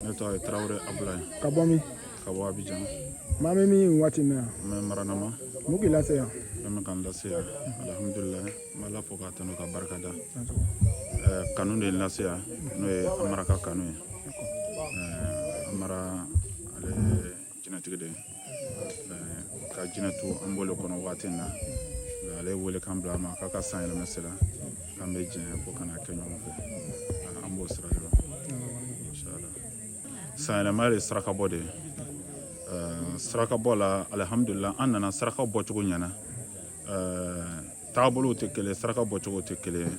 ne tɔgɔ ye tarawele abulayi ka bɔ min ka bɔ abijan maa bɛ min waati in na yan n bɛ maranama mun k'i lase yan fɛn min ka n lase yan alihamudulila n bɛ ala fo k'a tanu ka barika da eh, kanu de ye n lase yan n'o ye amara ka kanu ye eh, amara ale jinɛtigi de ka jinɛtɔn an b'o le kɔnɔ waati in na ale ye welekan bila an ma k'a ka san yɛlɛma sera k'an bɛ jɛn ko ka n'a kɛ ɲɔgɔn fɛ an b'o sira yɔrɔ san yɛlɛma de ye sarakabɔ de ye sarakabɔ la alihamudulila an nana saraka bɔcogo ɲɛna taabolow tɛ kelen saraka bɔcogo tɛ kelen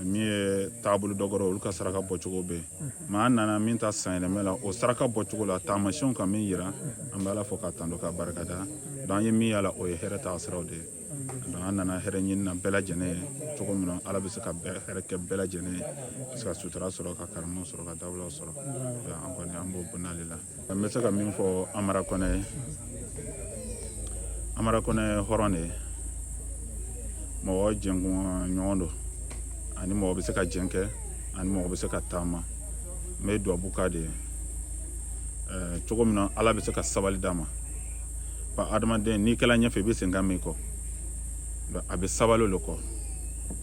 min ye taabolo dɔ kɔrɔ olu ka saraka bɔcogo bɛ yen maa an nana min ta san yɛlɛmɛ la o saraka bɔcogo la taamasiyɛnw ka min yira an bɛ ala fo k'a tando ka barika da donc an ye min y'a la o ye hɛrɛ taa siraw de ye donc an nana hɛrɛ ɲinina bɛɛ lajɛlen ye cogo min na ala bɛ se ka hɛrɛ kɛ bɛɛ lajɛlen ye ka se ka sutura sɔrɔ ka karama sɔrɔ ka dawula sɔrɔ an kɔni an b'o bonya le la n bɛ se ka min fɔ amara kɔnɛ ye amara kɔnɛ ye hɔrɔn de ye mɔgɔ jɛɲɔgɔn don ani mɔgɔ bɛ se ka jɛn kɛ ani mɔgɔ bɛ se ka taama n bɛ dubabu k'a de ye cogo min na ala bɛ se ka sabali d'a ma adamaden n'i kɛla ɲɛfɛ i bɛ sen kan min kɔ a bɛ sabali o de kɔ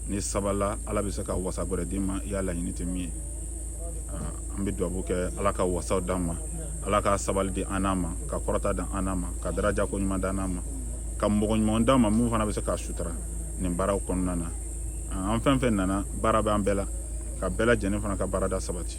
n'i sabalila ala bɛ se ka wasa gɛrɛ d'i ma i ya laɲini tɛ min ye an bɛ dubabu kɛ ala ka wasaw d'an ma ala ka sabali di an n'a ma ka kɔrɔta di an n'a ma ka daraja ko ɲuman d'an n'a ma ka mɔgɔ ɲuman d'an ma min fana bɛ se k'an sutura nin baaraw kɔnɔna na an fɛn fɛn nana baara bɛ an bɛɛ la ka bɛɛ lajɛlen fana ka baarada sabati